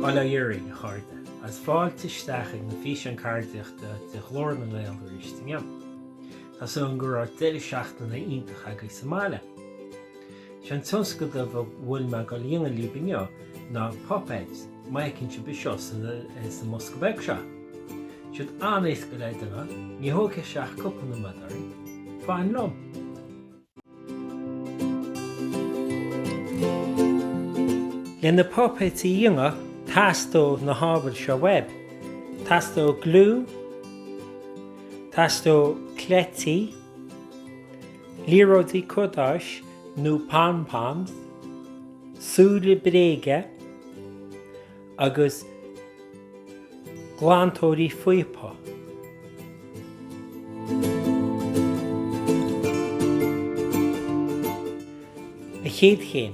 Bail ó Dhia oraibh, a chairde, agus fáilte isteach ag na Físeáin Ceardaíochta de Ghlór na nGael aríst inniu. Tá súil agam go raibh deireadh seachtaine iontach agaibh sa mbaile. Sé an tionscadal a bhfuil mé ag dul a dhéanamh libh inniu ná puipéid, má fheiceann sibh seo sa mbosca beag seo. Siad an-éasca le déanamh, ní thógfaidh sé ach cúpla nóiméad orainn. Fan liom! Le na puipéid a dhéanamh teastóidh na hábhair seo uaibh, teastóidh gliú, teastóidh cleití, Liathróidí cadáis nó pom-poms, súile bréige agus glantóirí píopa. An chéad chéim.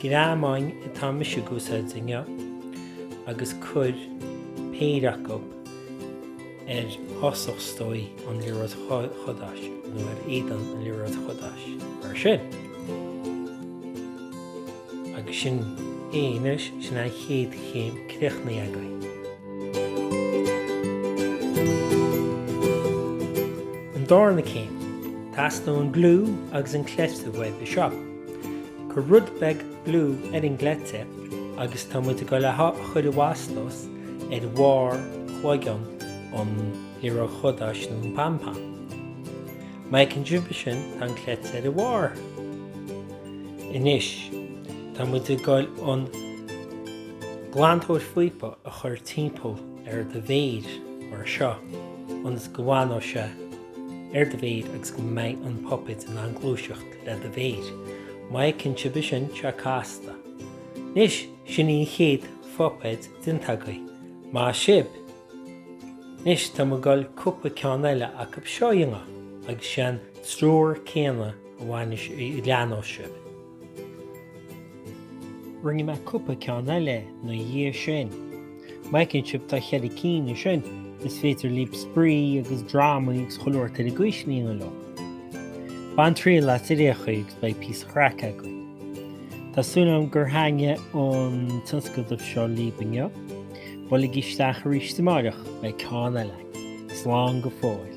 Greamáin atá mise ag úsáid inniu agus cuir péire acu ar thosach is dóigh an liathróid chadáis nó ar éadan an liathróid chadáis, mar sin. Agus sin é anois, sin an chéad chéim, críochnaithe agaibh. An darna céim, teastaíonn an gliú agus an cleite uaibh. Seo. Cuir rud beag gliú ar an gcleite agus tá muid ag dul á chur i bhfastós ar bharr chloigeann an liathróid chadáis nó an pom-pom. Má fheiceann sibh é sin, tá an cleite ar a bharr. Anois, tá muid ag dul an glantóir píopa a chur timpeall ar do mhéir mar seo, ionas go bhfanfaidh sé. ar do mhéir agus go mbeidh an puipéad in ann gluaiseacht le do mhéir. Má fheiceann sibh é sin, tá sé casta. Anois, sin í an chéad phuipéad déanta agaibh. Maith sibh! Anois, tá mé ag dul cúpla ceann eile acu seo a dhéanamh agus sé an treoir céanna a bhaineas a leanós sibh. Rinne mé cúpla ceann eile na dhiaidh sin. Má fheiceann sibh tá cheithre cinn ansin, is féidir libh spraoi agus drámaí agus chuile shórt eile acu sin a dhéanamh leo. Bain triail as ar aon chaoi agus beidh píosa chraic againn. Tá súil agam gur thaitnigh an tionscadal seo libh inniu. Buailigí isteach aríst amáireach, beidh ceann eile againn. Slán go fóill.